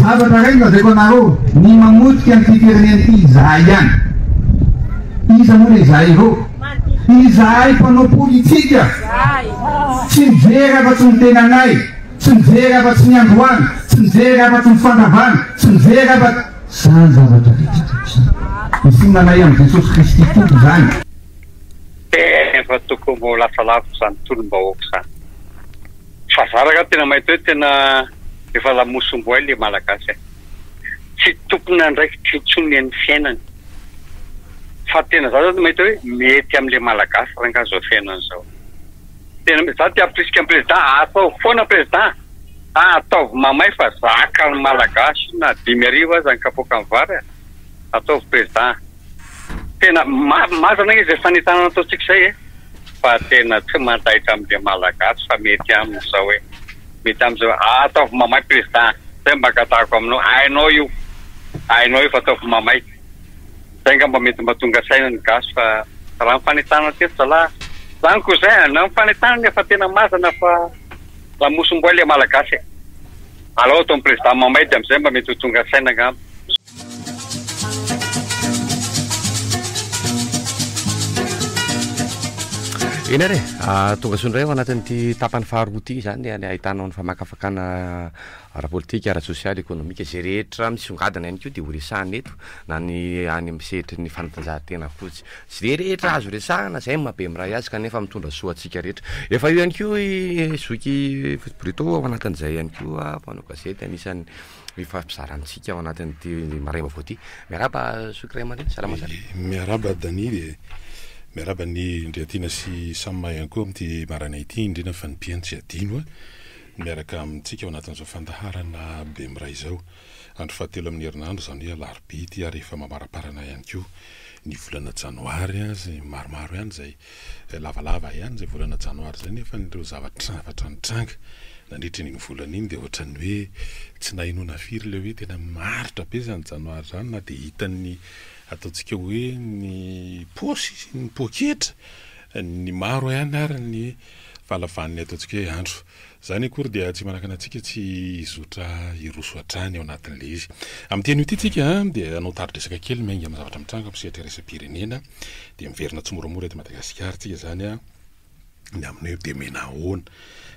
Zavatra iray no lazaiko anareo, ny mamotika an'ity firenena ity izahay ihany. Iza moa ilay izahay ireo? Izahay mpanao politika. Tsy mijery afa-tsy ny tenanay, tsy mijery afa-tsy ny androany, tsy mijery afa-tsy ny fandavany, tsy mijery afa-tsy izany zavatra vitsivitsy izany. Ny finoanay amin'i Jesosy Kristy Tompo izany. Efa tokony ho lasa lavitra izany tolom-bahoaka izany. Fa za ragah tena mahita hoe tena efa lamosomboay le malagasy a! Tsy tompon'andraikitra intsony amin'ny fiainany. Fa tena za zany mahita hoe mety amin'le malagasy rangah zao fiainany zao. Tena mety, za te hampirisika an'i président ataovy foana président a! Ataovy mamay fa zakan'ny malagasy na dimy arivo aza ny kapoakan'ny vary a! Ataovy président a! Tena marina izay fanentanana ataontsika izay e! Fa tena tsy mandaitra amin'ilay Malagasy fa mety aminy izao hoe, mety aminy izao hoe, ah ataovy mamay prezida, izay mba angatahiko aminao, hainao io, hainao io fa ataovy mamay. Izay angamba mba mety tonga saina ny gasy fa raha ny fanentanana teto zalahy, izany koa izay an, na ny fanentanana efa tena mazana fa lamosim-boay ilay Malagasy e! Alao ataovy prezida mamay dia amin'izay mba mety ho tonga saina angamba. Eny ary ah, tonga soa indray ao anatin'ity tapany faharoa ity izany any ahitanao ny famakafakana ara-politika, ara-tsosialy, ekonomika, izay rehetra misongadina ihany koa dia ho resahana eto na ny any amin'ny sehatry ny fanatanjahantena fotsy. Tsy dia rehetra azo resahana izay maha be miray azy kanefa mitondra soa antsika rehetra. Efa eo ihany koa i Zoky Bruto ao anatin'izay ihany koa mpanao gazety anisan'ny Hifampizarantsika ao anatin'ity maraina vaovao ity. Miarahaba Zoky Ray aman-dreny, salama sa? Miarahaba Dani e! Miarahaba an'i Ndriatiana sy Samma ihany koa amin'ity maraina ity, indrindra fa ny mpihaino tsy adino miaraka amintsika ao anatin'izao fandaharana Bemiray izao. Andro fahatelo amin'ny herinandro, izany hoe alarobia ity ary efa mamaramparana ihany koa ny volana janoary, maromaro ihany izay Lavalava ihany izay volana janoary izay nefa ireo zava-trnavatra nitranga nandritra iny volana iny dia ohatran'ny hoe tsy nahenoana firy ilay hoe tena maharitra be izany janoary izany na dia hitan'ny ataontsika hoe ny paosy sy ny poketra ny maro ihany ary ny fahalavan'ny ataontsika hoe andro Izany akory dia tsy manakana antsika tsy hizotra hiroso hatrany ao anatin'ilay izy. Amin'ity anio ity tsika dia hanao tari-dresaka kely miainga amin'ny zavatra mitranga amin'ny sehatra iraisam-pirenena. Dia miverina tsimoramora eto Madagasikara tsika izany ny amin'ny hoe dia mena ahoana?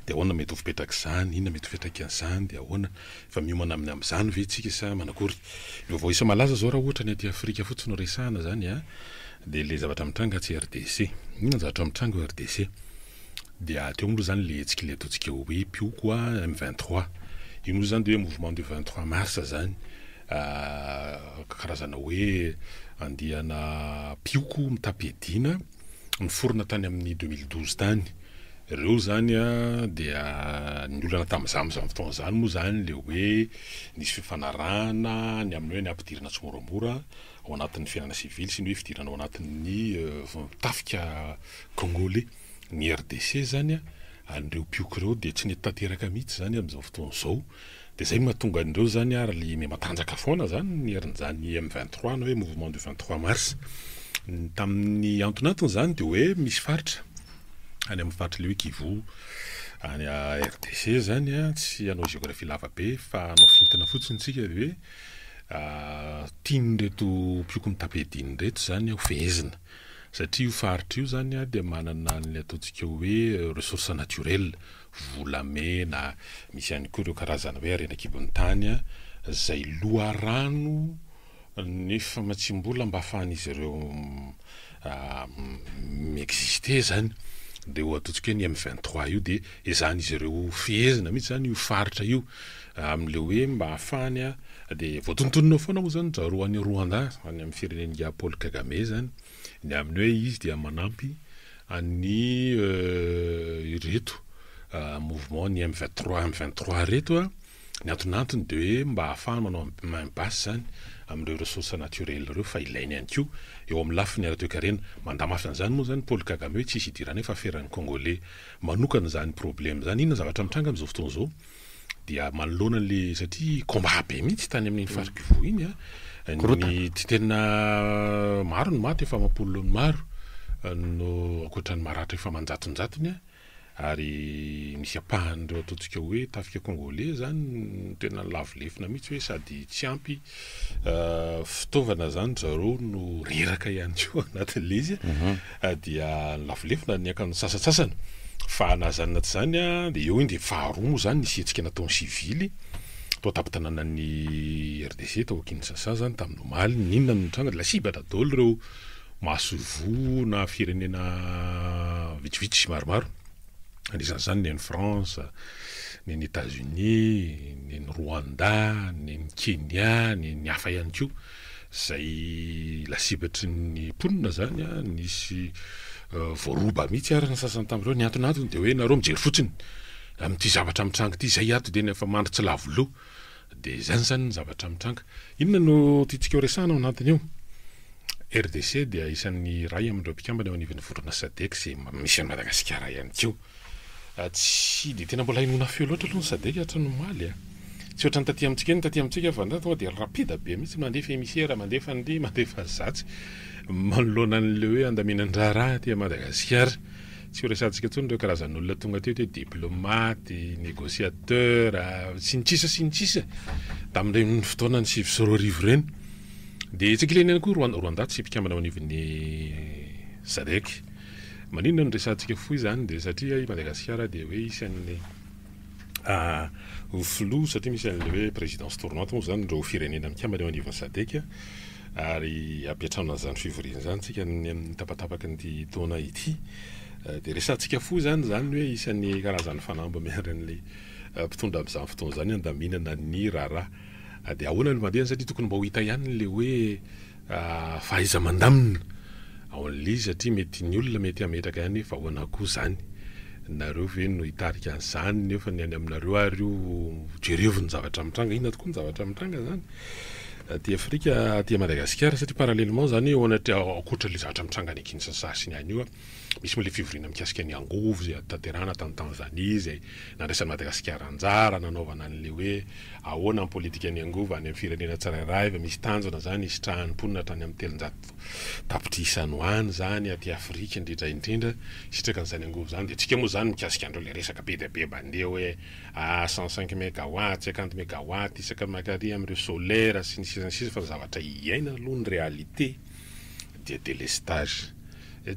Dia ahoana mety ho fipetrak'izany? Inona mety ho fiantraikan'izany? Dia ahoana? Efa miomana amin'ny amin'izany ve tsika sa manakory? Ny vaovao isa malaza izao raha ohatra ny aty Afrika fotsiny no resahana izany dia ilay zavatra mitranga atsy RDC. Inona ny zavatra mitranga ao RDC? Dia teo moa zany le hetsika le ataontsika hoe mpioko a M vingt trois. Io moa zany de hoe mouvement du vingt trois mars zany. Karazana hoe andiana mpioko mitam-piadiana niforona tany amin'ny deux mille douze tany. Reo zany a dia ny olana tam'zany am'zany fotoana zany moa zany le hoe nisy fifanarahana ny amin'ny hoe ny hampidirana tsimoramora ao anatin'ny fiainana sivily sy ny hoe fidirana ao anatin'ny tafika Congolais, ny RDC zany a, an'ireo mpioky ireo dia tsy nety tanteraka mihitsy zany amin'izao fotoana izao, dia zay no mahatonga an'ireo zany ary le me matanjaka foana zany ny herin'izany M vingt trois na hoe mouvement du vingt trois mars, ny tamin'ny antonantony zany dia hoe misy faritra any amin'ny faritra le hoe Kivu any RDC zany a, tsy hanao géographie lava be fa hanao fintina fotsiny tsika dia hoe tian'ireto mpioky mitapy ediny ireto zany a hofehezina. Satria io faritra io izany dia manana an'ilay ataontsika hoe ressource naturel, volamena, misy ihany koa ireo karazana hoe harena an-kibon'ny tany izay loharano nefa matsiam-bola mba ahafahan'izy ireo mi-exister izany. Dia io ataontsika hoe ny M23 io dia ezahin'izy ireo fehezina mihitsy izany io faritra io Amin'ilay hoe mba hahafahany a, dia voatonontonona foana moa izany zareo any Rwanda, any amin'ny firenen'ingahy Paul Kagame izany, ny amin'ny hoe izy dia manampy an'ny ireto mouvement ny M vingt trois, M vingt trois ireto a, ny antonantony dia hoe mba hahafahany manao main basse izany amin'ireo ressources naturelles ireo fa ilainy ihany koa eo amin'ny lafiny ara-toekarena. Mandamafy an'izany moa izany Paul Kagame hoe tsisy idiranay fa aferan'ny Congolais manokana izany problème izany. Inona ny zavatra mitranga amin'izao fotoana izao? dia manoloana an'le satria combat be mihitsy tany amin'iny mm. faritra Kivu iny a ny tsy tena maro ny maty efa amam-polony maro no ankoatran'ny maratra efa manjatonjatony a ary misy apahan'ireo ataontsika hoe tafika kongolais zany tena lavo lefona mihitsy hoe sady tsy ampy fitaovana zany zareo no reraka ihany koa anatin'le izy mhm. ah, dia lavolevina ny akan'ny sasatsasany fa nazanina tsy zany a ah, de eo iny de faharoa moa zany nisy hetsika nataon'ny sivily tao tapitananan'ny rdc tao kinsasa zany tamin'ny omaly ninona no nitranga de lasibatra dolo reo masoivoa na firenena vitsivitsy maromaro Anisan'izany ny any France, ny any Etats-Unis, ny any Rwanda, ny any Kenya, ny ny hafa ihany koa. Izay lasibatry ny mponina izany a, nisy voaroba mihitsy ary ny sasany tamin'ireo. Ny anton'antony dia hoe nareo mijery fotsiny amin'ity zavatra mitranga ity, izay ato dia ny afa-mandry tsy lavo loha. Dia izany izany ny zavatra mitranga. Inona no tiantsika ho resahana ao anatin'io? RDC dia isan'ny iray amin'ireo mpikambana eo anivon'ny vondrona Sadec izay misy an'i Madagasikara ihany koa. Tsy dia tena mbola henoina feo loatra aloha ny Sadec hatranomaly. Tsy ohatran'ny taty amintsika iny, taty amintsika fa tonga dia rapida be mihitsy, mandefa emisera, mandefa an'ity, mandefa an'izatsy manoloana an'ilay hoe handaminan-draharaha aty Madagasikara. Tsy ho resahantsika intsony ireo karazan'olona tonga teto hoe diplomaty, négociateur, sy ny tsisa sy ny tsisa tamin'ireny fotoanan'ny sivy sy roa arivo ireny. Dia tsy ankilany ihany koa i Rwanda tsy mpikambana ao anivon'ny Sadec. Maninona no resahantsika fohy izany dia satria i Madagasikara dia hoe isan'ny. ho filoha satria misy an'ilay hoe présidence tournante moa izany ireo firenena mikambana eo anivon'ny Sadec ary hampiantrano an'izany fivoriana izany isika ny amin'ny tapatapakin'ity taona ity dia resahantsika fohy izany izany hoe isan'ny karazan'ny fanamby miandry an'ilay mpitondra amin'izany fotoana izany handaminana ny raharaha dia ahoana no mandeha satria tokony mba ho hita ihany ilay hoe fahaiza mandamina ao an'le izy satria mety ny olona mety hametraka ihany hoe vahoana koa zany, nareo ve no hitarika an'zany nefa ny any aminareo ary io jerevo ny zavatra mitranga, inona tokoa ny zavatra mitranga zany aty afrika aty Madagasikara satria parallèlement zany eo anatreha ankoatra le zavatra mitranga any Kinshasa sy ny any io a. Misy moa ilay fivoriana mikasika ny angovo izay notanterahina tany Tanzania izay nandraisan'i Madagasikara anjara nanaovana an'ilay hoe ahoana ny politikan'ny angovo any amin'ny firenena tsirairay, fa misy tanjona izany hisitrahan'ny mponina hatrany amin'ny telonjato tapitrisa no any izany aty Afrika indrindra indrindra hisitraka an'izany angovo izany dia antsika moa izany mikasika an'ireo ilay resaka be dia be mandeha hoe ah cent cinq megawatt, cinquante megawatt isaka maka ary amin'ireo solaire sy ny sisa sy ny sisa fa ny zavatra iaina aloha ny réalité. dia délestage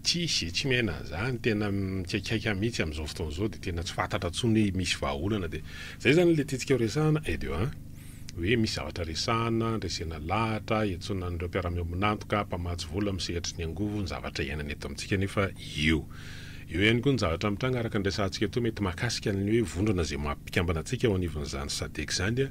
tsisy e, tsy miaina an'izany, tena mikaikaika mihitsy amin'izao fotoana izao dia tena tsy fantatra intsony hoe misy vahaolana dia izay izany ilay tiantsika ho resahana et de un hoe misy zavatra resahana, andresena lahatra, iantsoana an'ireo mpiara-miombon'antoka, mpamatsy vola, misehatry ny angovo, ny zavatra iainana eto amintsika nefa io. Eo ihany koa ny zavatra mitranga araka ny resahantsika teo mety mahakasika ny hoe vondrona izay maha-mpikambana antsika eo anivon'izany Sadec izany,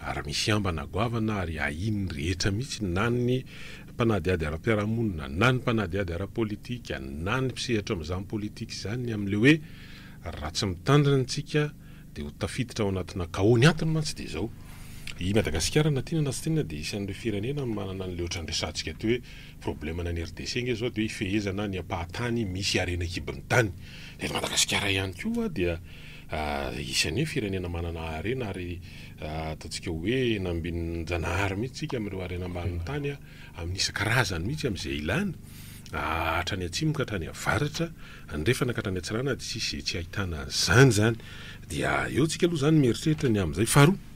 ary misy ambana goavana ary ahian'ny rehetra mihitsy na ny mpanadihady ara-piarahamonina na ny mpanadihady ara-politika na ny mpisehatra amin'izany politika izany ny amin'ilay hoe raha tsy mitandrina isika dia ho tafiditra ao anatina chaos, ny antony mantsy dia izao, i Madagasikara na tiana na tsy tiana dia isan'ireo firenena manana an'ilay ohatran'ny resahantsika aty hoe problème-ny any RDC nge izao dia hoe ifehezana ny ampahan-tany misy harena an-kibon'ny tany, dia eto Madagasikara ihany koa dia. Isan'ny hoe firenena manana harena ary ataontsika hoe eny ambinin-janahary mihitsy isika amin'ireo harena ambanin'ny tany amin'ny isan-karazany mihitsy amin'izay ilana, hatrany atsimo ka hatrany avaratra, andrefana ka hatrany atsirana dia tsisy izay tsy ahitana an'izany izany. Dia eo isika aloha izany mieritreritra ny amin'izay. Faharoa,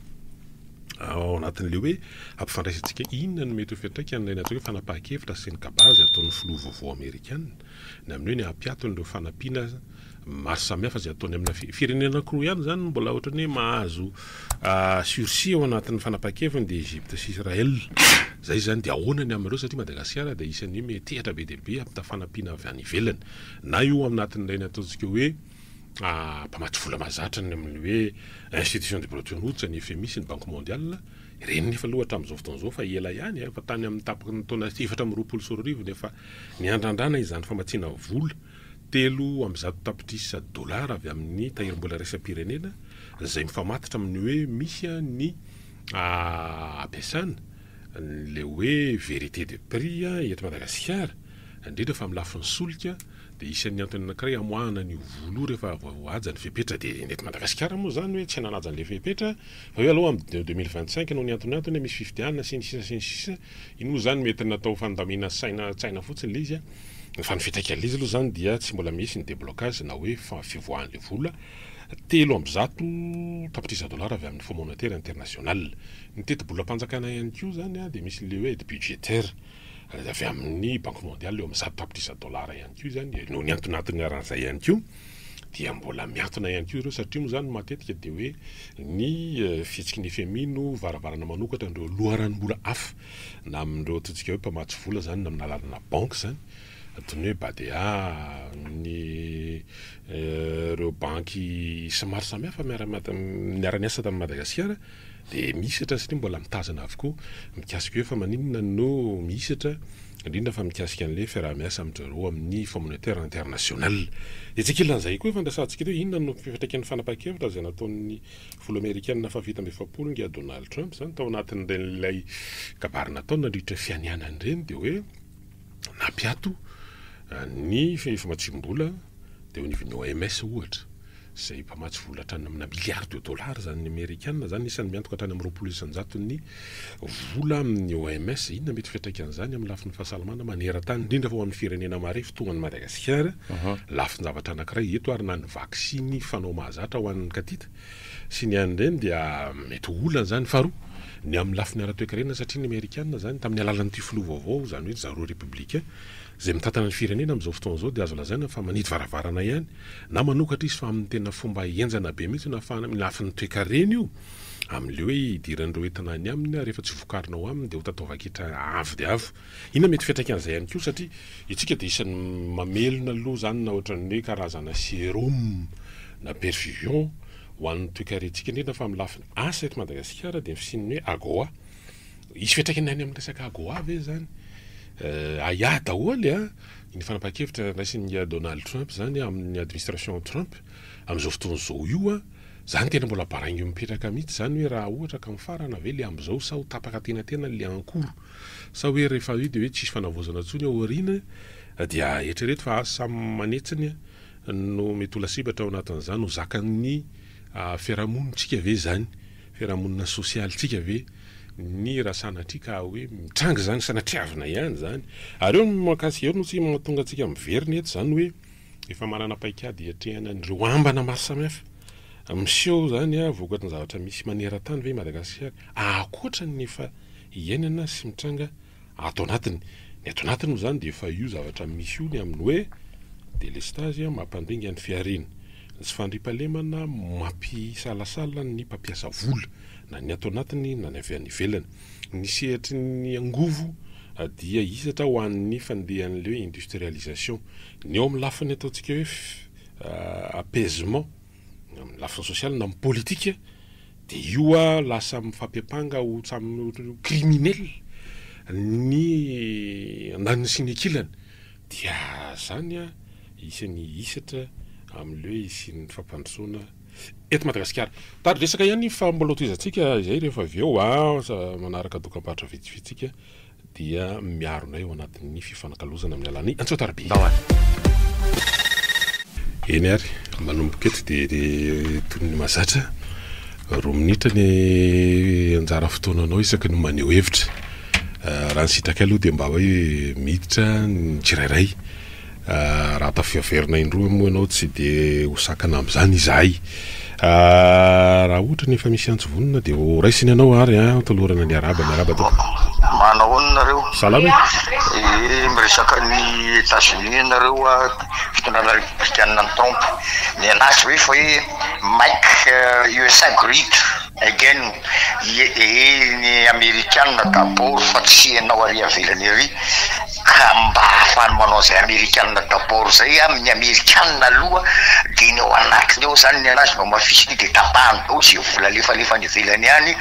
ao anatin'ilay hoe hampifandraisantsika inona no mety ho fiantraikan'ilay natao hoe fanapahan-kevitra sy ny kabazy ataon'ny filoha vaovao amerikana ny amin'ny hoe ny hampiato an'ireo fanampiana maro samihafa izay ataony amina firenena anankiroa ihany izany no mbola ohatrany hoe mahazo sursis ao anatin'ny fanapahan-keviny dia Egypte sy Israël izay izany dia ahoana ny amin'ireo satria Madagasikara dia isan'ny hoe metehatra be dia be hampita fanampiana avy any ivelany na io anatin'ilay ny ataontsika hoe mpamatsy vola mahazatra ny amin'ny hoe institution de Bretton Woods ny FMI sy ny Banque Mondiale ireny nefa aloha hatramin'izao fotoana izao fa ela ihany efa tany amin'ny tapaky ny taona efatra amby roapolo sy roa arivo no efa niandrandrana izany famatsiana vola Telo amby zato tapitrisa dolara avy amin'ny tahirim-bola iraisam-pirenena izay mifamatotra amin'ny hoe misy ny ampiasana ilay hoe vérité de prix eto Madagasikara, indrindra fa amin'ny lafiny solika dia isan'ny antony anankiray hamoahana an'io vola io rehefa voahaja ny fepetra dia ny eto Madagasikara moa izany hoe tsy nanaja an'ilay fepetra fa io aloha amin'ny deux mille vingt cinq noho ny antonantony hoe misy fifidianana sy ny sisa sy ny sisa Iny moa izany mety natao fandamina saina tsaina fotsiny ilay izy a! Fa ny fiantraikan'ilay izy aloha izany dia tsy mbola misy ny déblocage na hoe fivoahan'ilay vola telo amby zato tapitrisa dolara avy amin'ny Fonds Monétaire International. Ny tetibolam-panjakana ihany koa izany a dia misy ilay hoe aide budgétaire avy amin'ny Banque Mondiale eo amin'ny zato tapitrisa dolara ihany koa izany noho ny anton'anton'ny aran'izay ihany koa. dia mbola miatona ihany koa ireo satria moa izany matetika dia hoe ny eh, fihetsiky ny FMI no varavarana manokatra an'ireo loharanom-bola hafa na amin'ireo ataontsika hoe mpamatsy vola izany na amin'ny alalanà banky izany toy ny hoe Badea ny eh, ireo banky sy maro samihafa miara-miasa tamin'i Madagasikara Dia mihisatra satria mbola mitazana avokoa mikasika hoe fa maninona no mihisatra, indrindra fa mikasika an'ilay fiaraha-miasa amin-dry zareo amin'ny Communautaire International. Etsy ankilan'izay koa efa niresahantsika teo, inona no fiantraikan'ny fanapahan-kevitra izay nataon'ny Filoha Amerikana fahafito amby efapolo ingahy Donald Trump izany tao anatin'ireny ilay kabary nataony nandritra ny fianianany ireny dia hoe, nampiato ny famatsiam-bola teo anivon'ny OMS ohatra, izay mpamatsy vola hatrany amina milliards de dollars izany ny amerikana izany, isan'ny miantoka hatrany amin'ny roapolo isan-jaton'ny vola amin'ny OMS, inona mety fiantraikan'izany amin'ny lafiny fahasalamana maneran-tany indrindra fa ho an'ny firenena marefo toa an'i Madagasikara, lafin-javatra anankiray eto ary na ny vaksiny fanao mahazatra ho an'ny katita. sy ny any ireny dia mety ho olana izany. Faharoa, ny amin'ny lafiny ara-toekarena satria ny Amerikana izany tamin'ny alalan'ity filoha vaovao, izany hoe zareo Républicains, izay mitantana ny firenena amin'izao fotoana izao dia azo lazaina fa manidy varavarana ihany na manokatra izy fa amin'ny tena fomba henjana be mihitsy no ahafahana amin'ny lafiny toekarena io amin'ilay hoe hidiran'ireo entana any aminy rehefa tsy vokarina ao aminy dia ho tataovan-ketra avo dia avo. Inona mety fiantraikan'izay ihany koa satria itsika dia isan'ny mamelona aloha izany na ohatran'ny hoe karazana serum na perfusion ho an'ny toekarentsika indrindra fa amin'ny lafiny asa eto Madagasikara dia ny fisian'ny hoe AGOA. Hisy fiantraikany any amin'ny resaka AGOA ve izany? Ahiahy daholo an! Iny fanapahan-kevitra niraisin'i Donald Trump izany amin'ny administration Trump amin'izao fotoana izao io an! Izany tena mbola baraingo mipetraka mihitsy izany hoe raha ohatra ka mifarana ve ilay amin'izao sa ho tapaka an-tenantena ilay ankoro? Sa hoe rehefa io dia hoe tsisy fanavaozana intsony ao aoriana dia eritrereto fa asa samy manetsiny no mety ho lasibatra ao anatin'izany ho zakan'ny fiarahamonintsika ve izany, fiarahamonina sosialintsika ve ny raha sanatria ka hoe mitranga izany, sanatriavina ihany izany. Ary eo no mahakasika eo no tsy mahatonga antsika miverina eto izany hoe efa manana paikady hiatrehana an'ireo ambana maro samihafa miseho izany vokatry ny zavatra misy maneran-tany ve i Madagasikara ankoatra ny efa iainana sy mitranga ato anatiny. Ny ato anatiny moa izany dia efa io zavatra misy io ny amin'ny hoe delestazy mampandringa ny fihariana, ny tsy fandriampahalemana mampisalasala ny mpampiasa vola, na ny ato anatiny na ny avy any ivelany. Ny sehatry ny angovo dia hisatra ho an'ny fandehan'ny hoe industrialisation. Ny ao amin'ny lafiny ataontsika hoe apaisement. Amin'ny lafiny sosialy na amin'ny politika dia io lasa mifampiampanga ho samy criminel ny andaniny sy ny ankilany dia izany isan'ny hisatra amin'ilay hoe hisian'ny fampandrosoana eto Madagasikara. Mitady resaka ihany fa mbola ho tohizantsika izay rehefa avy eo, manaraka dokam-barotra vitsivitsy tsika. dia miaro anay ao anatin'ny fifanakalozana amin'ny alalan'ny antsoatarbe. Ndao ary. Eny ary, manomboka eto dia toy ny mahazatra roa minitra ny anjara fotoananao isaky ny maneho hevitra. Raha ny sitrakay aloha dia mba hoe miditra ny tsirairay. Raha tafiaverina indroa moa ianao tsy dia ho sakana amin'izany izahay. Raha ohatra ny efa misy antsy vonona dia ho raisina ianao ary an! Tolorana ny arahaba, miarahaba tompoko. Manahoana nareo? Salama e! Ee, miresaka an'i Etazonia ianareo a, fitondrana repoblikanina mitrompe. Mianatra ve fa hoe Make USA Great? Again, ie ee ny amerikanina d'abord fa tsy enao ary avelany ary ka mba ahafahany manao zay amerikanina d'abord zay a, ny amerikanina aloha de ny ao anatiny ao zany ny anazy no amafisiny de tapahany daholo ze vola alefalefa any ivelany any,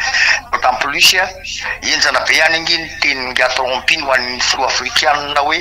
d'autant plus. Henjana be any ange ny tenin-dRatao Ampiny ho an'ny filoha afrikanina hoe,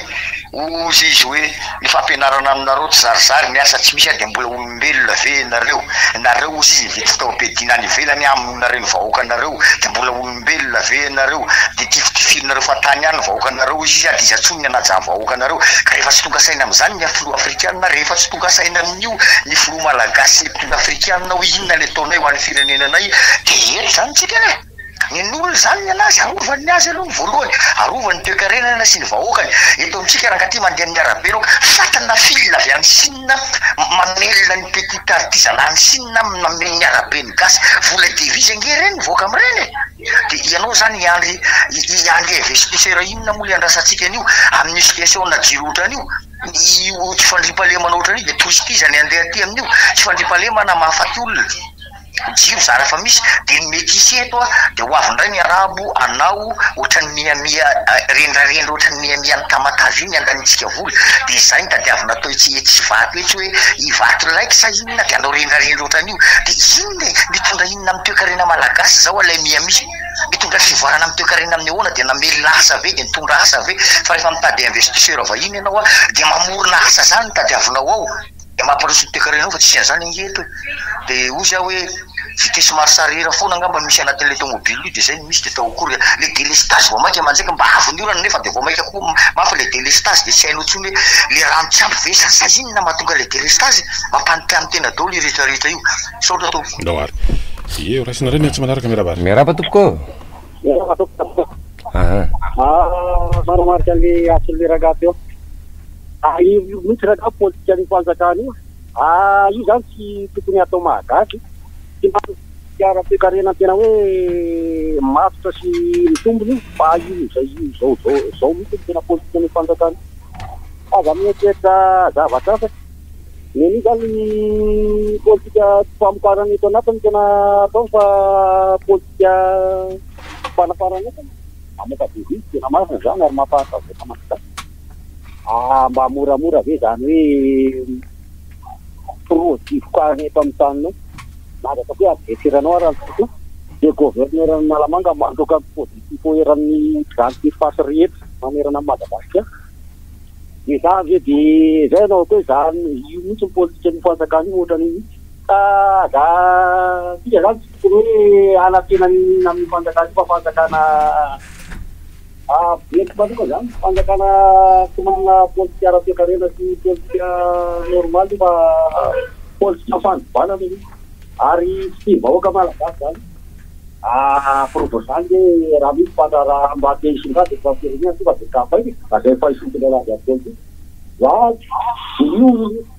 hozy izy hoe, ny fampianarana aminareo tsy zarizary ny asa tsy misy dia mbola olombelona ve ianareo? nareo hozy izy nividy fitaovam-piadiana any ivelany aminareo ny vahoakanareo dia mbola olombelona ve ianareo? dia tifitifirinareo fahatany ihany ny vahoakanareo hozy izy dia iza tsony ny hanaja ny vahoakanareo? ka rehefa tsy tonga saina amin'izany ny filoha afrikanina rehefa tsy tonga saina amin'io ny filoha malagasy sy ny mpitondra afrikanina hoe inona ny ataonay ho an'ny firenenanay dia eto izany tsika e! Ninoana izany ny an'azy, arovany ny azy aloha ny voalohany, arovany ny toekarenana sy ny vahoakany. Eto amintsika rangaty mandeha amin'ny arabe ireo fat na fil avy any Sina mamelona ny petit artisanat any Sina mameno ny arabe ny gasy, vola devise ange ireny mivoaka amin'ireny e! Dia ianao izany hiandry hiandry investisseur inona moa le andrasantsika an'io amin'ny situation na jiro ohatrany io, io tsy fandriampahalemana ohatrany io dia touriste iza ny handeha aty amin'io, tsy fandriampahalemana mahafaty olona. Jiro zany efa misy de ny mety hisy eto a de ho avy indray ny arabo anao ohatran'ny mihamia rendrarendra ohatran'ny mihamia ny tamatave io ny andanintsika vola de zay no tadiavina atao etsy etsy ivato etsy hoe ivato like sa inona de anao rendrarendra ohatran'io de inona e mitondra inona amin'ny toekarena malagasy zao alay mihamia mitondra fivoarana amin'ny toekarena amin'ny ahoana de namelona asa ve de nitondra asa ve fa rehefa mitady investisseur vahiny ianao a de mamorona asa zany no tadiavinao ao Dia mampiroso ny toekarena eo fa tsy an'izany ange eto e! Dia hoy za hoe vitesse marche arrière foana angamba misy anatin'ilay tomobile io dia izay no misy dia tao akory a! Ilay délestage vao mainka manjaika, mba avy ny orana nefa dia vao mainka koa mafy ilay délestage dia tsy hainao intsony hoe ilay rano tsy ampy ve izany sa inona mahatonga ilay délestage? Mampanotany tena daholo io rehetra rehetra io. Misaotra tompoko. Ndao ary. Ie, raisina indray ny antsy manaraka, miarahaba ary. Miarahaba tompoko ô. Miarahaba tompoko. Aha. Manamarika an'ilay asan'ilay rangahy teo. Tahiry io mihitsy rangah politikan io fanjakana io ah io zany tsy tokony atao mahagasy tsy manana politika ara toekarena tena hoe matotra sy mitombina io fa io izay io zao zao zao mihitsy no tena politikan io fanjakana io aza mieritreritra zavatra hafa neny io zany politika tsy famokarana eto anatiny no tena ataony fa politika fanafarana entana mamoka devis tena marina zany ary mampahantra vahoaka malagasy. Ah, mba moramora ve zany hoe projivoka any eto amin'ny taninay? Milaza ataoko hoe adresseranao ary an'i Koto, dia gouverneur an'Analamanga mandroaka ny positifo eran'ny grande surface rehetra manerana an'i Madagasikara. Dia za avy eo dia zay anaovako hoe za io mihitsy ny politikan'io fanjakana io ohatrany io mihitsy. Ka za antsika zany tsy tokony hoe hanantena ny amin'ny fanjakana io fa fanjakana. Amiko manoka zany tsy fanjakana tsy manana politika ara-toekarena sy politika normaly fa politika fandrobana no misy ary tsy tia vahoaka malagasy zany preuve zany hoe raha misy mpandraharaha mba te hisongadina eto firenena tonga de kapaina zay fahisompy ilay lanjany politika zany io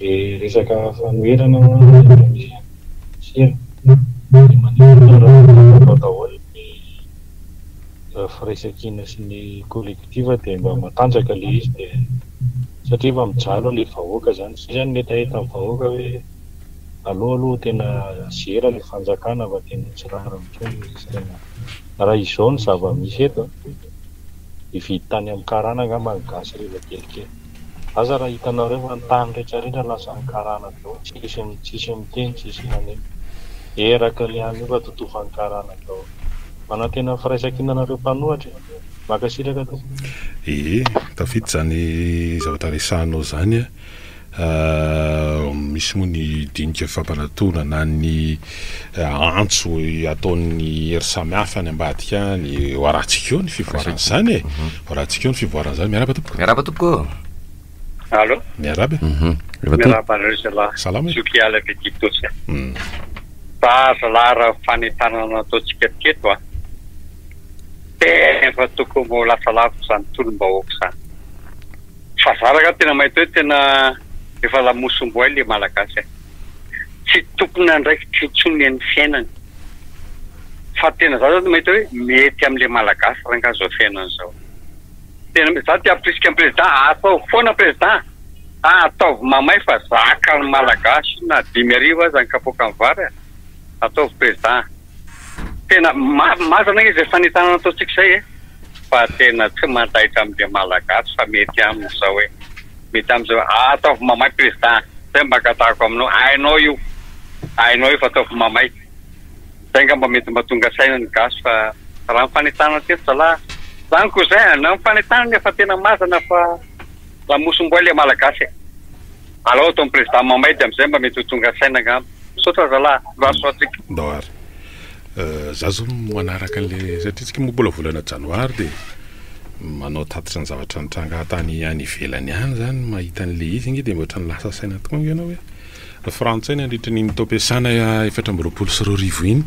Re resaka fanoherana ho'a ny Mpamily sira dia maneho ny rafitra fanao daholo ny raha firaisankina sy ny collectif dia mba matanjaka le izy dia satria efa mijaly le vahoaka zany zay zany ny hetaheta ny vahoaka hoe aleo aloha tena zera le fanjakana fa tena tsy rariny tsony le izy tena raha izao ny zava misy eto a hividy tany am karana angamba ny gasy reva kelikely. Aza raha hitanareo fa ny tany rehetra rehetra lasa ny karana avy eo tsisy tsisy miteny tsisy maneho. Eraky ny any io ka totofan'ny karana daholo. Manantena ny firaisankina anareo mpanohatra e. Mankasitraka tompoko. Ee, tafita izany zavatra resahanao zany an, misy moa ny dinika fampanatona na ny. antso ataon'ny hery samihafa any ambadika any, ho arahantsika eo ny fivoaran'izany e, mhm. ho arahantsika eo ny fivoaran'izany, miaraba tompoko. Miaraba tompoko. Allo. Miaraba. Mhm. Miaraba anareo zala. Salama. Zoky ala Betitosa. Mm. Fa zala raha fanentanana ataontsika teto a. Tena fa tokony mbola lasa lavitra izany tolom-bahoaka izany. Fa zara ka tena mahita hoe tena efa lamosim-boay le malagasy. tsy tompon'andraikitra intsony amin'ny fiainany. Fa tena za zao mahita hoe mety amle malagasy rangah zao fiainany zao. Tena mety za te hampirisika ny président ataovy foana président a! Ataovy mamay fa zakan'ny malagasy io na dimy arivo aza ny kapoakan'ny vary a! Ataovy président a! Tena marina izy izay fanentanana ataontsika izay e! Fa tena tsy mandaitra amin'izay Malagasy fa mety aminy izao e! Mety aminy izao hoe ataovy mamay Président izay mba angatahiko aminao, hainao io, hainao io fa ataovy mamay. Izay ngamba mba mety mba tonga saina ny gasy fa raha ny fanentanana teto zalahy, izany koa izay, na ny fanentanana fa tena marina fa. Lamosim-boay le malagasy e! Alao ataony président mamay de amzay mba mety ho tonga saina angamba. Misaotra zalah mba soa antsika. Ndao ary za zao manaraka anle satria tsika moa mbola volana janoary de manao tatitra ny zavatra nitranga tany any ivelany any zany mahita anle izy nge de otrany lasa saina tokoa nge enao e! Frantsay nandritra an'iny taom-piasana efatra amby roapolo sy roa arivo iny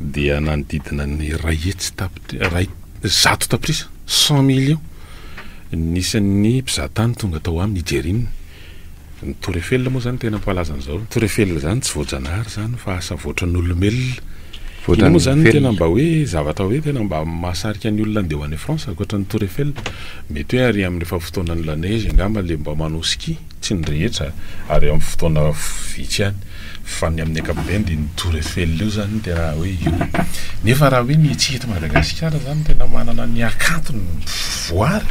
dia nanodidina ny iray hetsy tapitrisa, zato tapitrisa, cent millions, ny isan'ny mpizahatany tonga tao aminy, Nigeria, ny Tour Eiffel moa izany tena mpalaza an'izao, ny Tour Eiffel izany tsy voajanahary izany fa asa voatran'olomelona, iny moa izany no tena mba hoe zavatra hoe tena mba mahasarika ny olona handeha ho any France ankoatran'ny Tour Eiffel, mety hoe ary amin'ilay efa fotoanan'ny la neige angamba ilay mba manao ski. Tsy ny rehetra, ary eo amin'ny fotoana vitsy ihany, fa ny amin'ny ankapobeny dia ny Tour Eiffel io izany no tena hoe io. Nefa raha hoe ny etsy eto Madagasikara izany no tena manana ny hakantony voary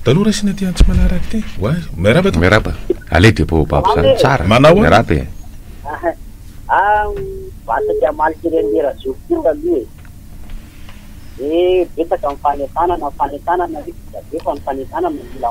dia aleo raisina aty Antsimanarak aty. Miarahaba tompoko. Miarahaba. Aleo dia baobab izany tsara. Manao ahoana? Miarahaba e. Vasa tsy hamalika ireny le rajojo ty taloha e! Ve betsaka ny fanentanana, ny fanentanana ve vita be fa ny fanentanana no mila.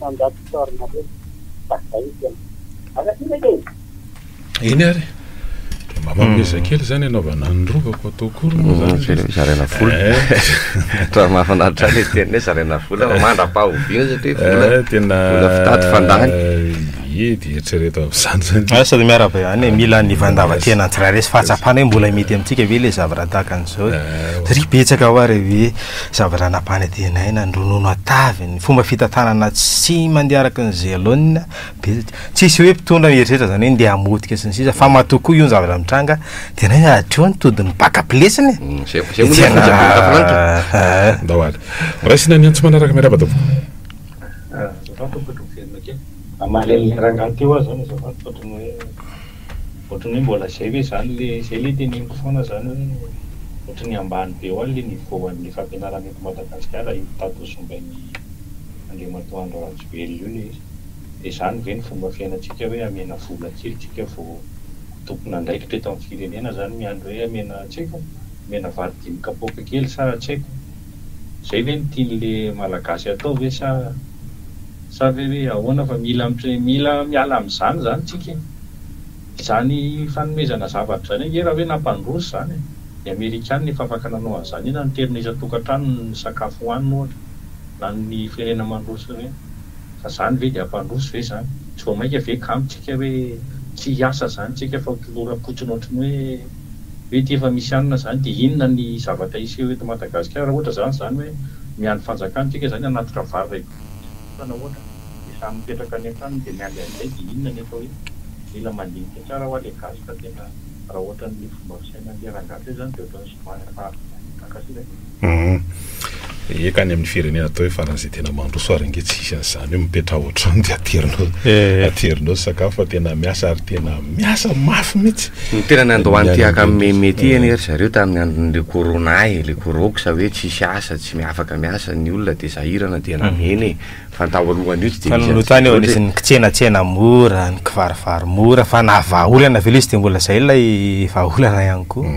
Mandato sary nareo fa zay tena. Aza ty reka e! Eny ary dia mba mampiezaka kely izany hanaovana ny rovako atao akory moa izany izy. Ve zaraina vola. Raha mahafinaritra ahy ilay teny hoe zaraina vola fa mandra-pahoviana satria vola tena vola fitady fandany. Ie dia eritrereto amin'izany izany. Asa dia miarahaba ihany e, mila ny fandavan-tena tsirairay sy fahatsapana hoe mbola mety amintsika ve ilay zavatra tahaka an'izao e. Satria betsaka ho'a re ve. Zavatra nampanantenaina, noronono an-tavy, ny fomba fitantanana tsy mandeha araka ny ze laonina, betsaka. Tsisy hoe mpitondra mieritreritra zany hoe ndeha hamotika sy ny sisa fa matoa koa io ny zavatra mitranga de nay hatreo ny todin'ny bakap lesy ny e! Zay zay moa lesy ny andavanandro e! Ndao ary. Raisina ny antso manaraka, miarahaba daholo. Azafady tompoko miverina kely. Mahaleo ny rangahy teo aho zany azafady fa otrany hoe. ohatran'ny hoe mbola zay ve zany le zay le teneniko foana zany hoe ohatran'ny ambany be hoany le niveau anle fampianarana eto Madagasikara io tato ho zombain'i Andriamatoa Andry Rajoelina io le izy de zany ve ny fomba fiainantsika hoe amena vola kely tsika vo ho tompon'andraikitra eto amin'ny firenena zany miandry hoe amena tsy haiko amena vary dimy kapoaka kely sa tsy haiko Zay ve no tianle malagasy atao ve sa sa ve hoe ahoana fa mila mitre mila miala amzany zany tsika e! Izany fanomezana zavatra zany ange raha hoe nampandroso zany e! Ny amerikana efa afaka nanao anzany iny nanterina isan-tokantrano ny sakafo hohanina ohatra na ny firenena mandroso ireny fa zany ve de hampandroso ve zany? Tsy vao maika ve kamo tsika hoe tsy hiasa zany tsika fa ho toloram-potsiny ohatran'ny hoe Mety efa misy anona zany de inona ny zavatra hiseho eto Madagascar ra ohatra zany zany hoe miandry fanjakana tsika zany hanatitra vary ray volo fa na ohatra de samy mipetraka any antaniny de miandry anizay de inona nefa hoe mila mandinika tsara hoa le gasy fa tena ra ohatra ny fomba fisainanle rangah teo zany de otrany somary efa azo miandry takatry zay. Humm. Eka any amin'ny firenena atao hoe faran'izay tena mandroso ary ange tsy hisy an'izany hoe mipetraha ao an-trano dia aterinao eh. aterinao sakafo fa tena miasa ary tena miasa mafy mihitsy. Ny tena nandoany ty haka meme ty anie ry zareo tamin'ny andron'ilay corona eh, ilay corox hoe tsisy asa, tsy afaka miasa ny olona dia sahirana dia namena eh. Fa ny tao alohan'io tsy dia nisy an'izay loatra eh. Fa nony nisy ny kitsenatsena mora, ny kivarivary mora fa na vahaolana ve ilay izy dia mbola izay ilay vahaolana ihany koa.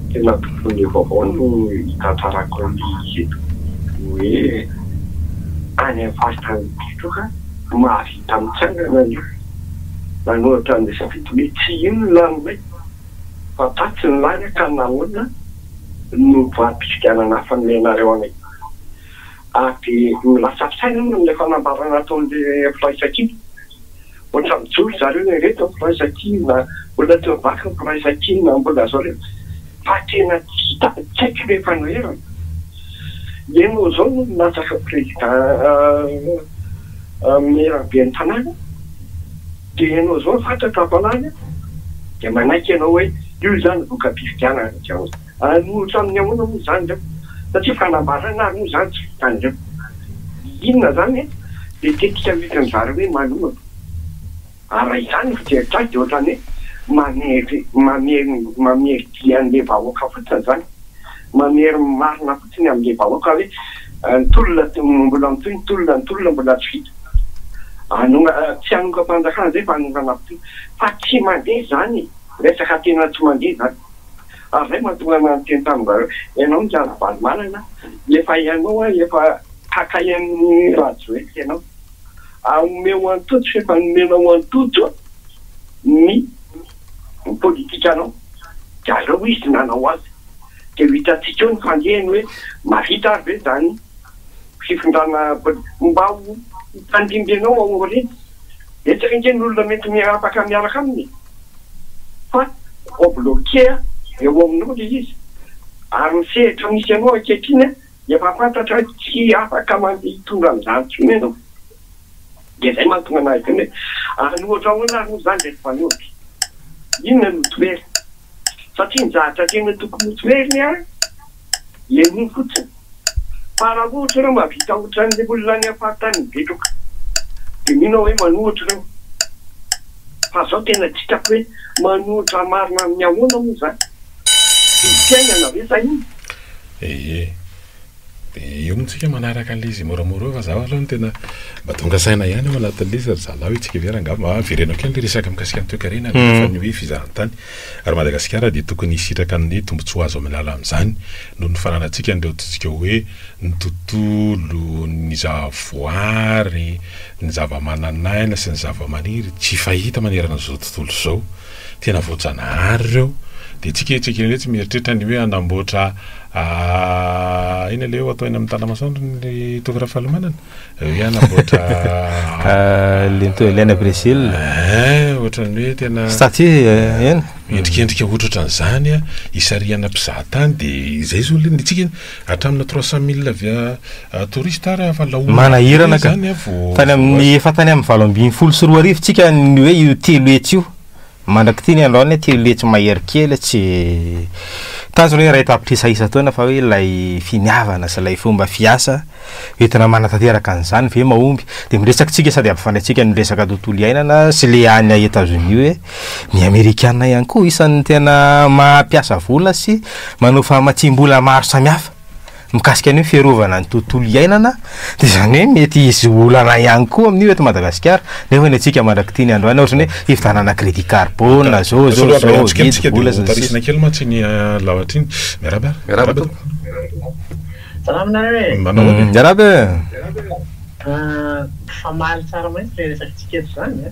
Tena mpitondra vaovao no hitantarako an'i Geto hoe any amin'ny faritany Geto ka mahavita mitsangana ny olona nanoratra ny zava-bita hoe tsy io ny laninay fa tatsy ny lany ka nahoana no voafidianana hafa no menareo anay ary dia milatsaka saina aho noho ilay fanambarana ataon'ilay firaisankina. Ohatra mijoro zareo le reto mpiray sakiny na olona teo vaky mpiray sakiny na mbola zareo fa tena tsy hita tsy haiko le fanoherana. Ianao izao no milatsaka président maire ben'ny tanàna de ianao izao fantatra fa lany de manaiky ianao hoe io izany voka-pifidianana avy ao. Hanolotra amin'ny ahoana moa izany ireo? Satria fanambarana ary moa izany tsy vitan'ireo. Inona izany e? Dia tetika hoentin'ny zareo hoe manorana. Ary raha izany no fijeritra azy dia ohatran'ny hoe mamery mamery mamery dia an'ilay vahoaka fotsiny izany. Mamery ny marina fotsiny amin'ilay vahoaka hoe ny tolona mbola mitohy, ny tolona ny tolona mbola tsy vita. Anona- tsy hanongam-panjakana izay fa hanorana fotsiny. Fa tsy mandeha izany e! Resaka tena tsy mandeha izany. Ary zay mahatonga anah miteny taminareo, ianao Michael Ravalomanana, efa ianao an, efa hakay an'i Rajoelina ianao, ary omeo antoto sy efa nomenao antoto ny politikanao, dia aleo izy nanao azy, dia ho hitantsika eo ny fandehany hoe mahavita ary ve izany fifindrana politika, mba ho hitandrindry anao ao aoriana. Betsaka ange ny olona mety miarapaka miaraka aminy fa vao bloquer eo aminao le izy ary ny sehatra misy anao ankehitriny efa fantatra hoe tsy afaka mandeha hitondra an'izany tsony ianao de zay mahatonga anah hiteny hoe any ohatra ahoana ary moa zany ry mpanompo? Inona no toerana? satria ny zavatra tena tokony ho toheriny ary le mino fotsiny fa raha ohatra ireo mahavita otran'ny olona any faritany betroka de mino aho hoe manohitra ireo fa zao tena tsy hitako hoe manohitra marina amin'ny ahoana moa zany? Didim-piainana ve sa inona? Ee. Dia eo moa tsika manaraka an'ilay izy moramora eo fa zaho aloha no tena mba tonga saina ihany ao anatin'ilay izy ry zalahy hoe isika ve raha angamba mba avereno kely ny resaka mikasika ny toekarena avy hatrany hoe fizahan-tany ary Madagasikara dia tokony hisitraka ny hoe tombontsoa azo amin'ny alalan'izany noho ny fananantsika an'ireo antsointsika hoe ny tontolo, ny zahavoary, ny zavamananaina sy ny zavamaniry tsy fahita manerana an'izao tontolo izao, tena voajanahary ireo dia tsika etsy ankilany etsy mieritreritra ny hoe hanamboatra Ahh aina le atao eny amin'ny tala masoandro ny toky rafalomanana eo ihany amboatra lento elaine à Brésil eh ohatran'ny hoe tena statut eh, eny endrikendrika ohatrohatra an'izany a isarihana mpizaha tany de izay zao le nitsika hatramina trois cent mille avy a touriste ary efa laoniny manahirana ka tany amin'ny efa tany amin'ny valo ambin'ny folo sy roa arivo tsika ny hoe io telo hetsy io Mandrak'ity ny andro any aty letsy mahery kely tsy tazony hoe iray tapitrisa isan-taona fa hoe ilay finiavana sy ilay fomba fiasa entina manatanteraka an'izany ve mahomby dia miresaka tsika sady ampifandraintsika ny resaka tontolo iainana sy le any a Etazonia hoe ny amerikana ihany koa isan'ny tena mampiasa vola sy manao famatsiam-bola maro samihafa. mikasika ny hoe fiarovana ny tontolo iainana dia izany hoe mety hisy olana ihany koa amin'io eto Madagasikara nefa ny antsika mandrak'ity ny androany ohatrany hoe fividianana crédit carbone zao zao zao zao vidy vola sy ny sisa tarisina kely mantsy iny laotra iny miarahaba miarahaba tompoko salama nareo e manao ahoana miarahaba e mifamaly tsara mantsy le resakitsika eto zany a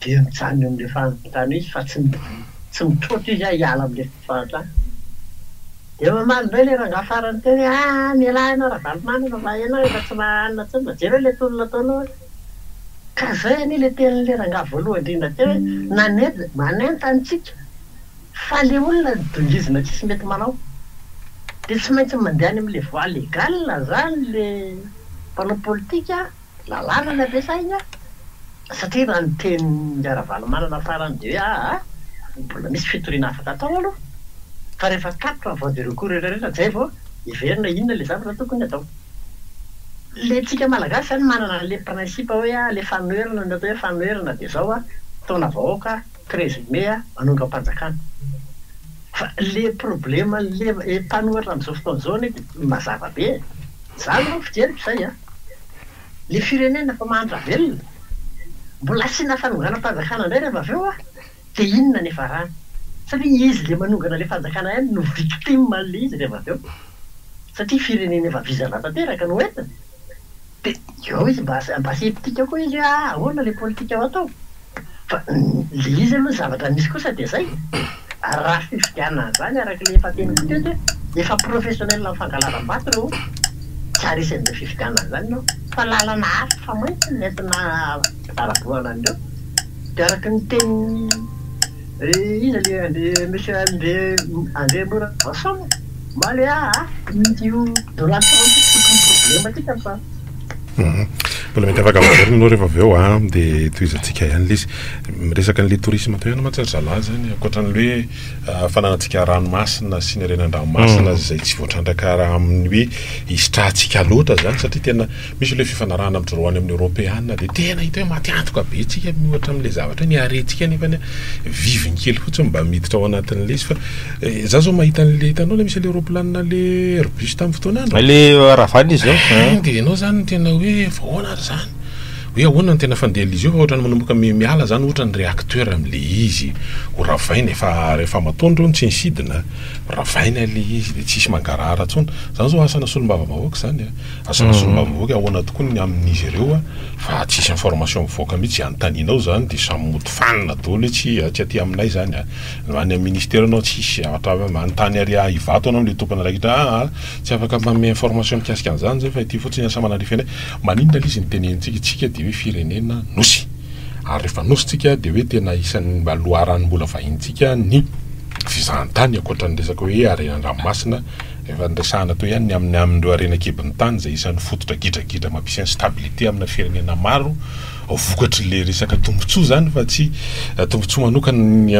dia mijanona eo amin'ilay fahantrana izy fa tsy tsy mitroatra izy hiala amin'ilay fahantrana. Dia mamaly indray ilay rangahy farany teo hoe, ah mialà ianao Ravalomanana fa ianao efa tsy mahanana intsony fa jereo ilay tolona ataonao an! Ka izay anie ilay tenin'ilay rangahy voalohany indrindra teo hoe, nanet manentana antsika fa ilay olona no dongizina tsisy mety manao dia tsy maintsy mandeha any amin'ilay voie légale izany ilay mpanao politika an! Lalàna ny ampiasaina satria raha ny tenin'i Ravalomanana farany dia hoe aa mbola misy fitoriana afaka atao aloha fa rehefa tapitra ny voie de recours rehetra rehetra izay vao hiverina inona ilay zavatra tokony atao. Ilay antsika Malagasy izany manana an'ilay principe hoe alefa anoherana ny atao hoe fanoherana dia izao an, fotoana vahoaka an. Présumé a manongam-panjakana. Fa le problema le mpanoratra amzao fotoana zao anie de mazava be e. Za zao fijeriko zay a. Le firenena efa mahantra velona. Mbola asiana fanonganam-panjakana ndray reva avy eo a. De inona ny ifarany. Satria izy le manongana le fanjakana ihany no victime anle izy reva avy eo. Satria firenena efa vizana tanteraka no entina. Dia eo izy mba mba sceptique koa izy hoe ah ahoana ilay politika ho atao? Fa ilay izy aloha ny zavatra misy kosa dia izay, ary raha fifidianana an'izany araka ilay efa teniko teto hoe efa professionnel amin'ny fankalazam-bato ireo tsy haharesy an'izay fifidianana an'izany ianao fa lalana hafa mantsy no nentina hitarabohana an'ireo dia araka ny tenin'ny Iza le André Monsieur André André Mora Rason e? Mba le ah ah Mety io Donald Trump io tsy tokony problème antsika fa. Mbola mety afaka miverina ianao rehefa avy eo a ah, dia itohizantsika ihany ilay izy. Miresaka an'ilay tourisme teo ihany mantsy ry zalahy izany, ankoatran'ny hoe ah, fananantsika ranomasina sy ny harenan-dranomasina izay tsy voatrandraka raha amin'ny hoe hisitrahantsika loatra izany satria tena. Misy ilay fifanarahana amin'ny droit ny amin'ny Eoropeana dia tena hita hoe maty antoka be tsika miohatra amin'ilay zavatra ny harentsika nefa viviny kely fotsiny mba miditra ao anatin'ilay izy fa za zao mahita an'ilay hitanao ilay misy ilay ropilanina le Airbus tamin'ny fotoana andro le Ravana izy zao dia ianao zany tena hoe vahoana ary zany hoe ahoana ny tena fandehan'izy io fa ohatrany manomboka miala zany ohatra ny réacteur amin'ilay izy ho ravaina efa rehefa matoandro io tsy ny sidina ravaina ilay izy dia tsisy mangarahara intsony zany zao asana solombavambahoaka zany a Asana sy ny mavivoky ahoana tokoa ny amin'izy ireo fa tsisy information mivoaka mihitsy izay anontanianao izany dia samy mody fanina daholo hoe tsy tsy aty aminay izany any amin'ny ministera ianao tsisy zavatra manontany ary ahy ivato ianao no ilay tompon'andraikitra aa tsy afaka manome information mikasika an'izany izay fa ity fotsiny asa manandrify anay maninona ilay izy ny tenenitsika isika dia hoe firenena nosy ary rehefa nosy tsika dia hoe tena isan'ny mba loharanom-bola vahinintsika ny fizahantany ankoatra ny resaka hoe harena an-dranomasina Efa niresahana teo ihany ny amin'ny amin'ireo harena an-kibon'ny tany izay isan'ny fototra gidragidra mampisy instabilité amina firenena maro vokatr'ilay resaka tombotsoa izany fa tsy tombotsoa manokana ny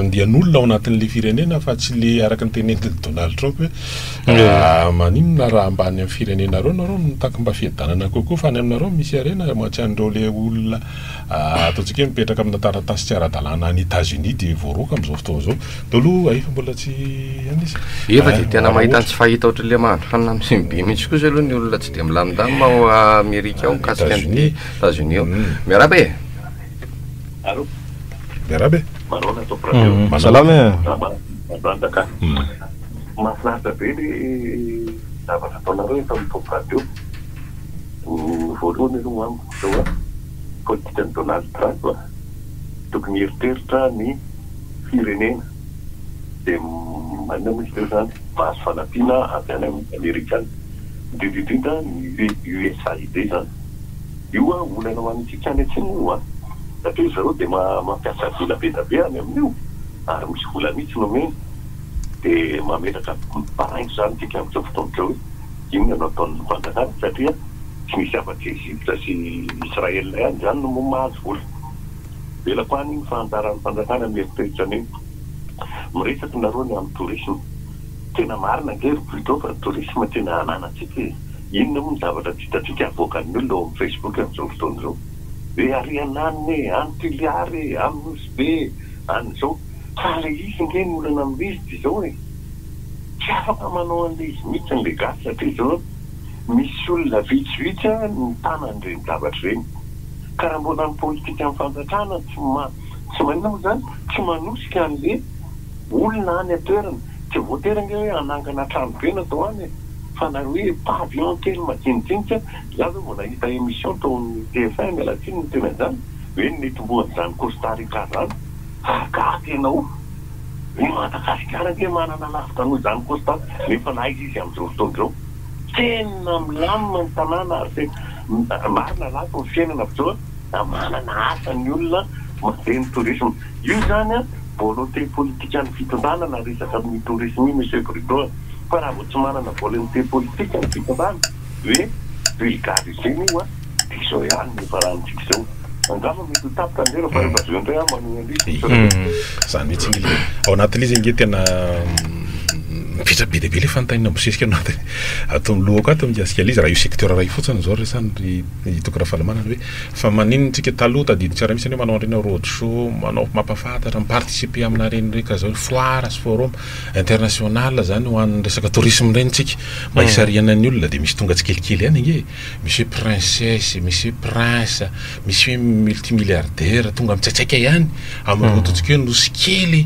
andian'olona ao anatin'ilay firenena fa tsy ilay araka ny teneniny Donald Trump hoe maninona raha mba any amin'ny firenenareo nareo no mitaky mba fiadanana kokoa fa any aminareo misy harena tsy an'ireo ilay olona Ataontsika hoe mipetraka amina taratasy tsy ara-dalàna any Etazonia dia voaroaka amin'izao fotoana izao. Teo aloha hay fa mbola tsy any izy. Efa dia tena mahita ny tsy fahita ohatran'ilay mahandro hanina amin'ny simbibe mihitsy kosa aloha ny olona tsy dia milamindamina ao Amerika ao mikasika an'ity Etazonia io. Miarahaba e! Allo! Miarahaba e! Manaona Top Radio? Salama e! Salama, matanjaka an! Mahafinaritra be ilay zavatra ataonareo eto amin'ny Top Radio. Ny voalohany aloha ho amiko izao an! politikan'i Donald Trump a! Tokony hieritreritra ny firenena dia maninona moa izy ireo izany? Mahazo fanampiana avy any amin'ny Amerikana, indrindra indrindra ny USAID izany. Io a, olana ho antsika any atsimo io a! Satria ry zareo dia mampiasa vola be dia be any amin'io ary misy vola mihitsy nomeny dia mametraka baraingo izany isika amin'izao fotoana izao e! Inona no ataon'ny fanjakana satria tsy misy afa-tsy Egypta sy Israel ihany izany no mahazo vola. Avelako any ny fahantaran'ny fanjakana mieritreritra an'iny. Miresaka nareo ny amin'ny tourisme. Tena marina ange ry Pluto fa ny tourisme tena ananantsika e. Inona moa ny zavatra tsy hitantsika avoakan'ny olona ao amin'ny Facebook amin'izao fotoana izao. Hoe ary an anona e, any Toliara e, any Nosy Be e, any izao. Fa ilay izy ange ny olana amin'ilay izy dia izao e. Tsy afaka manao an'ilay izy mihitsy ny gasy hatrizao, misy olona vitsivitsy ary no mitana an'ireny zavatra ireny. Ka raha mbola ny politikan'ny fanjatrana tsy tsy maninona moa izany, tsy manosika an'ilay olona any an-toerana, tsy voatery ange hoe hanangana trano be na atao any e, fa na hoe pavillon kely madinidinika, za zao vao nahita emission tao amin'ny TF1 miala tsiny ny teny anjara, hoe ny nitomboan'izany Costa Rica izany. Ahatsiaro tena ho. Ny Madagasikara ve manana lavitra noho izany Constant nefa naiza izy amin'izao fotoana izao? Tena milamina ny tanàna ary tena marina lafo ny fiainana amin'izao a, manana asa ny olona, mandeha ny tourisme. Io izany a, volonté politikan'ny fitondrana na resaka amin'io tourisme io Monsieur Bruno a. Fa raha vao tsy manana volonté politika ny fitondrana dia vulgarisena io a. Dia izao ihany no ifarahantsika izao. Angamba mety ho tapitra ny lela fa rehefa avy eo indray aho manohy indray isika sao dia. Izany mihitsy ange ilay. Ao anatin'ilay izy ange tena mipetra be dia be ilay fanontaniana mibosesika ao anaty ato amin'ny lohako ato mikasika ilay izy. Raha io secteur iray io fotsiny izao resany ry i Toky Rafalimanana hoe fa maninona isika taloha tadidintsika raha misy anie manao an'ireny road show, manao mampahafantatra, mi-participer aminà ireny reka izao hoe foire sy forum international izany ho an'ny resaka tourisme ireny isika mba hisarihana ny olona dia misy tonga tsikelikely ihany ange e. Monsieur Princesse, Monsieur Prince, Monsieur Multimilliardaire, tonga mitsaitsaika ihany amin'ny rototsika eo, nosy kely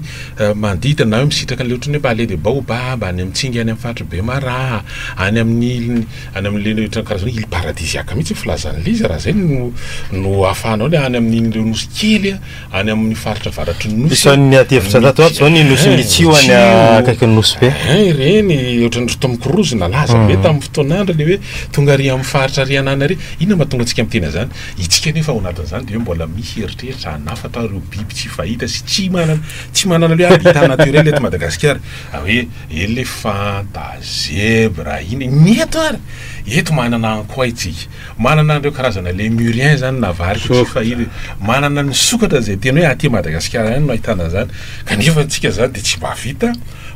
manodidina, na hoe misitraka an'ilay ohatran'ny hoe mba aleha dia baobab, any amin'ny tsingy any amin'ny faritry Bemaraha, any amin'ny iliny, any amin'ilay ohatran'ny karazana hoe île paradisiaque mihitsy ny filazan'ilay izy raha izay no no ahafahanao ilay any amin'iny ireo nosy kely, any amin'ny faritra avaratry ny nosy. Isan'ny adihevitra tato ato izao ny nosin'i Mitsio any akaikin'ny Nosy Be. Eh, ireny ohatran'ny ry Tom Cruise nalaza be hmm. tamin'ny fotoan'androny hoe tonga ary amin'ny faritra ary anana ary. Inona mahatonga antsika miteny an'izany? Itsika nefa ao anatin'izany dia hoe mbola misy eritreritra hanafatra ireo biby tsy fahita sy tsy manana tsy manana hoe habitat naturel eto Madagasikara. Ah, hoe elefanta, zebra, iny. Ny eto ary, eto manana ankoay tsika. Manana an'ireo karazana Lémuriens zany na varika tsy fahita, manana ny sokatra izay tena hoe aty Madagasikara ihany no ahitana an'izany kanefa antsika izany dia tsy mahavita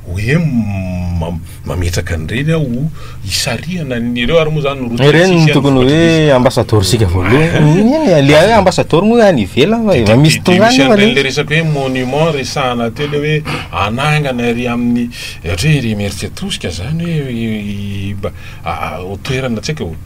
hoe mametraka an'ireny aho ho hisarihana ny, ireo ary moa izany no route Ireny no tokony hoe ambasadaorintsika voalohany, ilay hoe ambasadaoro moa any ivelany fa efa misy tonga any nefa le. Ilay resaka hoe monument resahana teo ilay hoe hanangana ery amin'ny ohatra hoe ery Imerintsiatosika izany hoe mba ho toerana tsy haiko.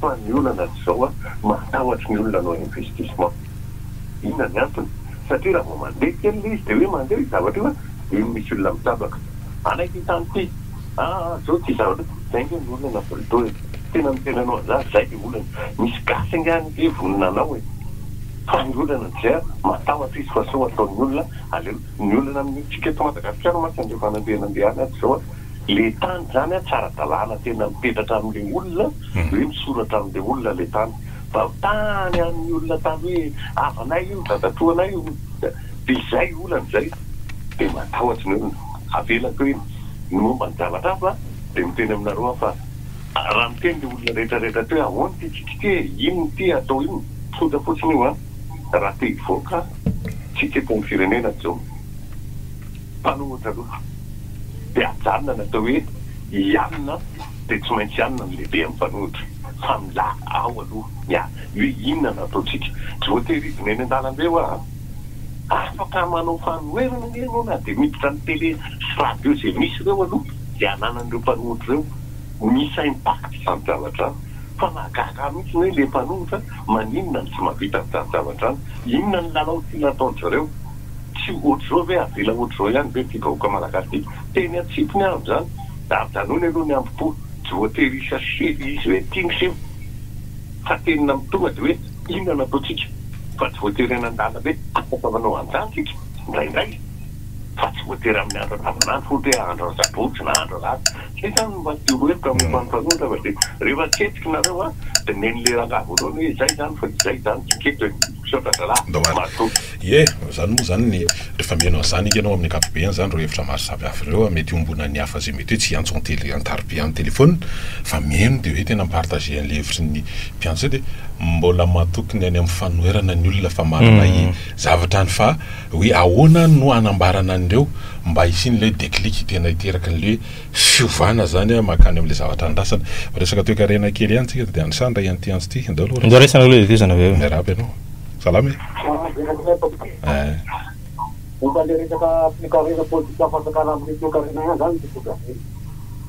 fa ny olana azy izao a, matahotry ny olona hanao investissement. Inona ny antony? Satria raha vao mandeha kely ilay izy dia hoe mandeha io zavatra io a, dia iny misy olona mitsabaka. Hanaiky ny tany ity. Aa zao ity zavatra ity. Izay ange ny olana Volto e. Tena ny tena anao za izay ilay olana. Misy gasy ange any ve vonona hanao e. Fa ny olana dia matahotra izy fa sao ataon'ny olona aleo. Ny olana amintsika eto Madagasikara mantsy andreo fanambeana be any ato zao le tany zany a tsy ara-dalàna tena mipetratra amle olona hoe misoratra amle olona le tany fa tany an'ny olona tany hoe havanay io dadatoa anay io de izay olana izay de matahotra ny olona avelako hoe ny momba ny zavatra hafa de miteny aminareo aho fa raha miteny le olona rehetra rehetra teo hoe ahoana ity tsika ity e inona ity atao inona tonta fotsiny io a raha te hivoaka Tsy tsetin'ny firenena izao. Tany hono taloha dia ajanona natao hoe hianina dia tsy maintsy hianina ny lehibe amin'ny mpanohitra. Fa milaza ao aloha ny ahy hoe inona no ataontsika. Tsy voatery hidina eny an-dalambe hoa a! Afaka manao fanoherana anie ianao na dia miditra ny tele sy radio izay misy ireo aloha izay ananan'ireo mpanohitra ireo. Misy impact izany zavatra izany. Fa mahagaga ahy mihitsy ny hoe ilay mpanohitra Maninona no tsy mahavita an'izany zavatra izany? Inona no lalao tiana ataon-dry zareo? Tsy ohatr'izao ve? Avela ohatr'izao ihany ve ity vahoaka malagasy ity? Teny an-tsipiny àry izany. Ajanony aloha ny hambom-po. Tsy voatery hi-chercher ilay izy hoe ity ny seho. Fa tenona amin'ny tonga dia hoe inona no ataontsika? Fa tsy voatery any an-dalam-be. Afaka manao an'izany isika indraindray. fa tsy voatery amin'ny andro andavanandro, ohatra hoe andro asabotsy na andro alahady, zay zany no mba tiako ho hevitra amin'ny fa ny mpanonitra fa dia rehefa tsy hetsika nareo a, dia neny le rangahy voalohany hoe izay zany fa tsy izay zany, tsy keto e, misaotra zalahy, matoa. Ie, zany moa zany ny rehefa mihaino an'zany ianao amin'ny ankapobeny zany ireo hevitra maro samy hafa ireo a, mety iombonan'ny hafa zay mety hoe tsy hiantso an-tele an-tarobia an-telephone fa mihaino dia hoe tena mi-partager an'le hevitry ny mpiantso zay dia mbola matoky ny any amin'ny fanoherana ny olona fa manana i zavatra any fa Hoe ahoana no hanambarana an'ireo mba hisian'ilay déclic tena hiteraky an'ilay fiovana izany mankany amin'ilay zavatra andrasana. Miresaka toekarena kely ihany isika dia anisan'ny iray an'ity antso ity. Andao aloha re. Andao raisina aloha ilay fiovana avy eo. Miarahaba ianao. Salama e. Eeh. Momba ilay resaka fikarohana politika fanjakana amin'ny toekarena ihany izany ity fotopampidirana.